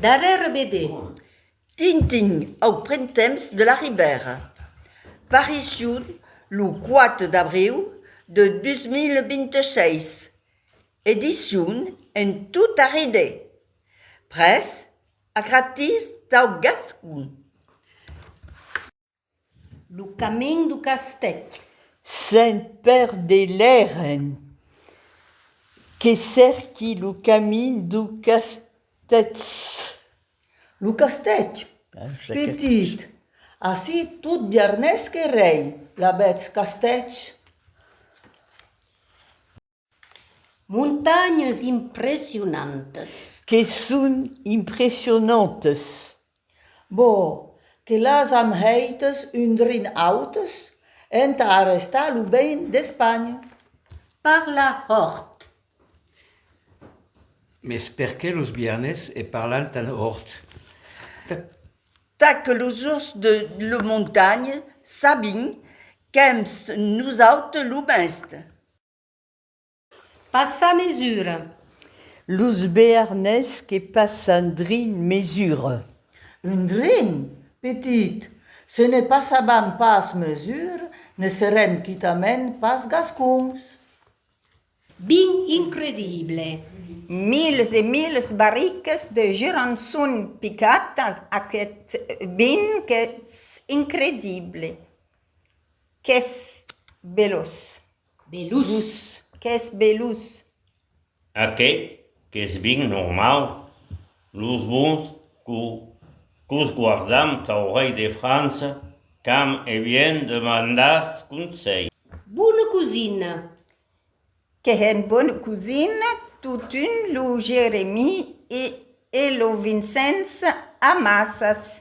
Darrèr BD. Tintin au printemps de la Ribèra. Paricion lo 4 d'abriu de 2026. Edicion en tot arridé. Près Agratís dau gascon. Lo camin du castèth. Sent per de l'èren. Que cèrqui lo camin du castèth. Lo castèth, petit. Ací tot biarnés que rei. La vètz, castèth? Montanhas impressionantas. Que son impressionantas. Bo, que las am hèitas un drin autas entà arrestar lo bein d'Espanha. Parla hòrt. Mes perqué los biarnés e parlan tan hòrt? Ta. Ta que los jorns de lo montanha sabin qu'èm nosautes lo mèste. Passar mesura. Los bearnés que passan drin mesura. Un drin? Petit, se ne passavan pas mesura, ne serem quitament pas gascons. Bin incredible. Miles e miles barricas de gerançon picat, aqueth bin qu'es incredible. Qu'es belós. Belús. Qu'es belús. Aqueth qu'es bien normau. Los bons qu'os guardam tau rei de França qu'am e bien demandatz conselh. Bona cosina. Qu'es un bon cosin. Totun lo Jeremie e lo Vincents amassas.